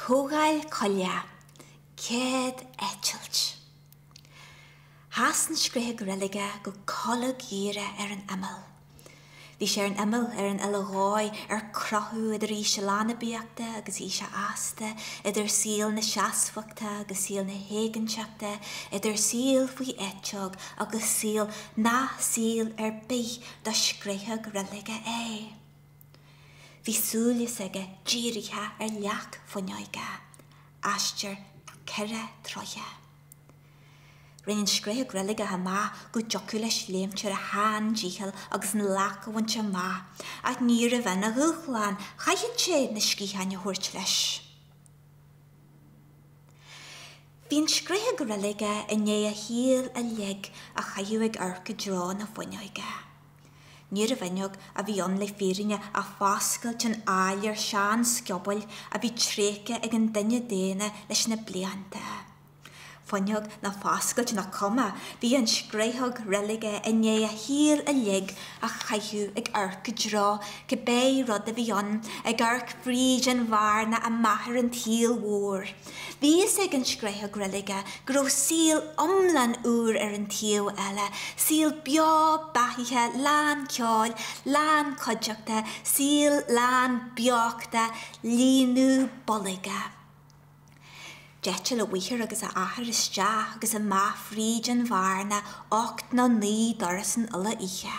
Comhdháil Coille, céad eitilt. Sheas an scréachóg reilige go colgdhíreach ar an imeall. Bhí sé ar an imeall, ar an uile dhóigh, ar crochadh idir aois a leanbaíochta agus aois a fhásta, idir saol na seasmhachta agus saol na héiginnteachta, idir saol faoi eiteog agus saol nach saol ar bith do scréachóg reilige é. Bhí súil s'aige dírithe ar leac fuinneoige, aistear ceithre troithe. Rinn an scréachóg reilige amach go dtiocfadh leis léimt ar a sheandícheall agus an leac a bhaint amach, ach níorbh in a dhúshlán, chaithfeadh sé na sciatháin a thabhairt leis. Bhí an scréachóg reilige i ndiaidh a shaol uilig a chaitheamh ag amharc i dtreo na fuinneoige. Níorbh fhuinneog a bhí ann le fírinne ach foscailt in áiléar seansciobóil a bhí tréigthe ag an duine daonna leis na blianta. Fuinneog nó foscailt nach cuma, bhí an scréachóg reilige i ndiaidh a shaol uilig a chaitheamh ag amharc i dtreo cibé rud a bhí ann, ag amharc fríd an bhearna amach ar an tsaol mhór. Bhí fhios ag an scréachóg reilige go raibh saol iomlán úr ar an taobh eile, saol beo beathaithe, lán ceoil, lán cuideachta, saol lán beochta, líonadh boilg. D'eitil a mháthair agus a athair isteach agus amach fríd an bhearna ocht nó naoi dturas an uile oíche.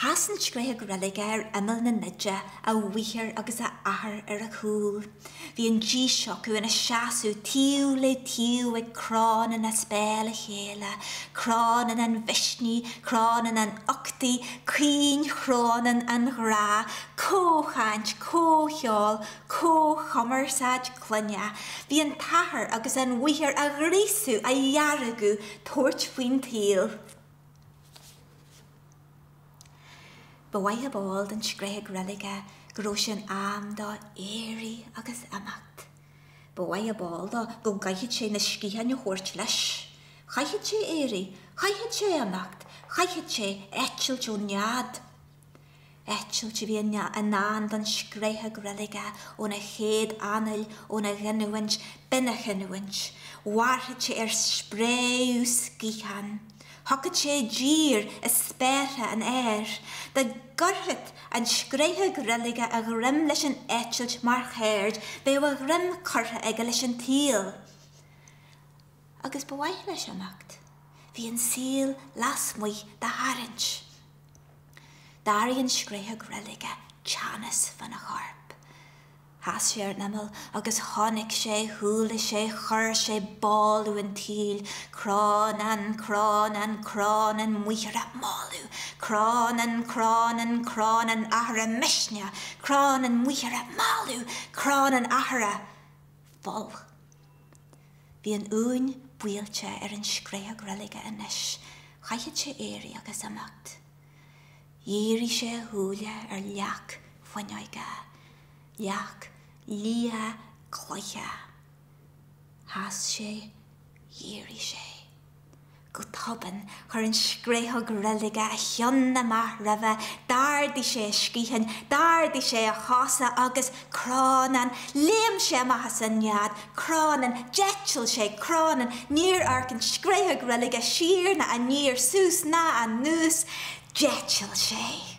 Sheas an scréachóg reilige ar imeall na nide, a mháthair agus a athair ar a chúl. Bhí an dís acu ina seasamh taobh le taobh ag crónán as béal a chéile, crónán an mhisnigh, crónán an uchtaigh, caoinchrónán an ghrá, comhchaint, comhcheol, comhchumarsáid clainne. Bhí an t-athair agus an mháthair á ghríosadh, á dheargadh, tabhairt faoin tsaol. Ba mhaith ab eol don scréachóg reilige go raibh sé in am dó éirí agus imeacht. Ba mhaith ab eol dó go gcaithfeadh sé na sciatháin a thabhairt leis. Chaithfeadh sé éirí, chaithfeadh sé imeacht, chaithfeadh sé eitilt ón nead. Eitilt a bhí i ndán don scréachóg reilige óna chéad anáil, óna ghiniúint, b'in a chinniúint. Mhairfeadh sé ar spréadh sciathán. Thiocfadh sé i dtír i spéartha an aeir. Dá gcuirfeadh an scréachóg reilige a ghreim leis an eitilt mar cheird, bheadh a ghreim curtha aige leis an tsaol. agus ba mhaith leis imeacht. Bhí an saol lasmuigh dá tharraingt. D'airigh an scréachóg reilige teannas fána chorp. Sheas sé ar an imeall agus chonaic sé, chuala sé, chuir sé boladh an tsaoil, crónán, crónán, crónán máthara, moladh, crónán, crónán, crónán athara, misneach, crónán máthara, moladh, crónán athara, folch. Bhí an uain buailte ar an scréachóg reilige anois, chaithfeadh sé éirí agus imeacht. Dhírigh sé a shúile ar leac fuinneoige, leac liath cloiche. Sheas sé, dhírigh sé. Go tobann chuir an scréachóg reilige a cheann amach roimhe, d'ardaigh sé a sciatháin, d'ardaigh sé a chosa agus, crónán, léim sé amach as an nead, crónán, d'eitil sé, crónán, níor amharc an scréachóg reilige siar ná aniar, suas ná anuas, d'eitil sé.